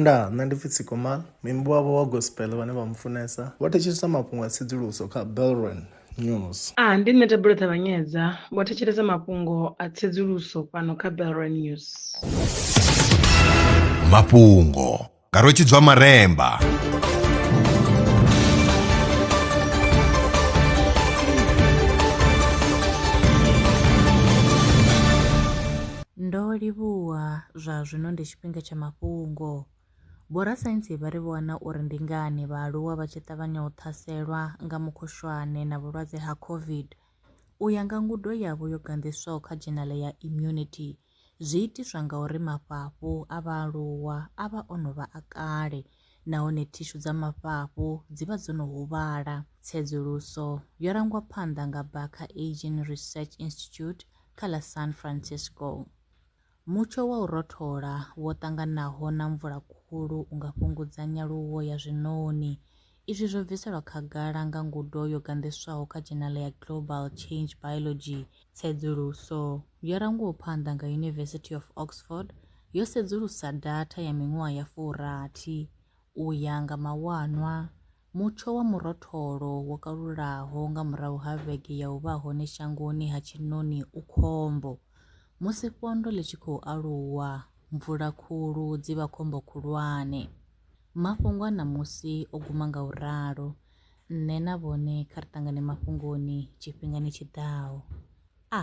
Ndaa, nṋe ndi pfi Tsikomal, muimbi wavho wa gospel vhane vha mu funesa vho thetshelesa mafhungo a tsedzuluso kha Belron News. A, ndi nṋe Thabelo Ṱavhanyedza, vho thetshelesa mafhungo a tsedzuluso fhano kha Belron News. Mafhungo nga Rwetshidzwa Maremba. Ndo livhuwa, zwa zwino ndi tshifhinga tsha mafhungo. Vhorasaintsi vha ri vho wana uri ndi ngani vhaaluwa vha tshi ṱavhanya u ṱhaselwa nga mukhushwane na vhulwadze ha COVID. U ya nga ngudo yavho yo ganḓiswaho kha dzhenale ya Immunity, zwi itiswa nga uri mafhafhu a vhaaluwa a vha o no vha a kale nahone thishu dza mafhafhu dzi vha dzo no huvhala. Tsedzuluso yo rangwa phanḓa nga Barker Aging Research Institute kha ḽa San Francisco. Mutsho wa u rothola wo ṱanganaho na mvula khulu u nga fhungudza nyaluwo ya zwiṋoni. Izwi zwo bviselwa khagala nga ngudo yo ganḓiswaho kha dzhenala ya Global Change Biology. Tsedzuluso yo rangwaho phanḓa nga University of Oxford yo sedzulusa datha ya miṅwaha ya furathi u ya nga mawanwa Mutsho wa murotholo wo kalulaho nga murahu ha vhege ya u vha hone shangoni ha tshiṋoni u khombo. Musi fhondo ḽi tshi khou aluwa, mvula khulu dzi vha khombo khulwane. Mafhungo a ṋamusi o guma nga u ralo, nṋe na vhone kha ri ṱangane mafhungoni tshifhingani tshi ḓaho. A.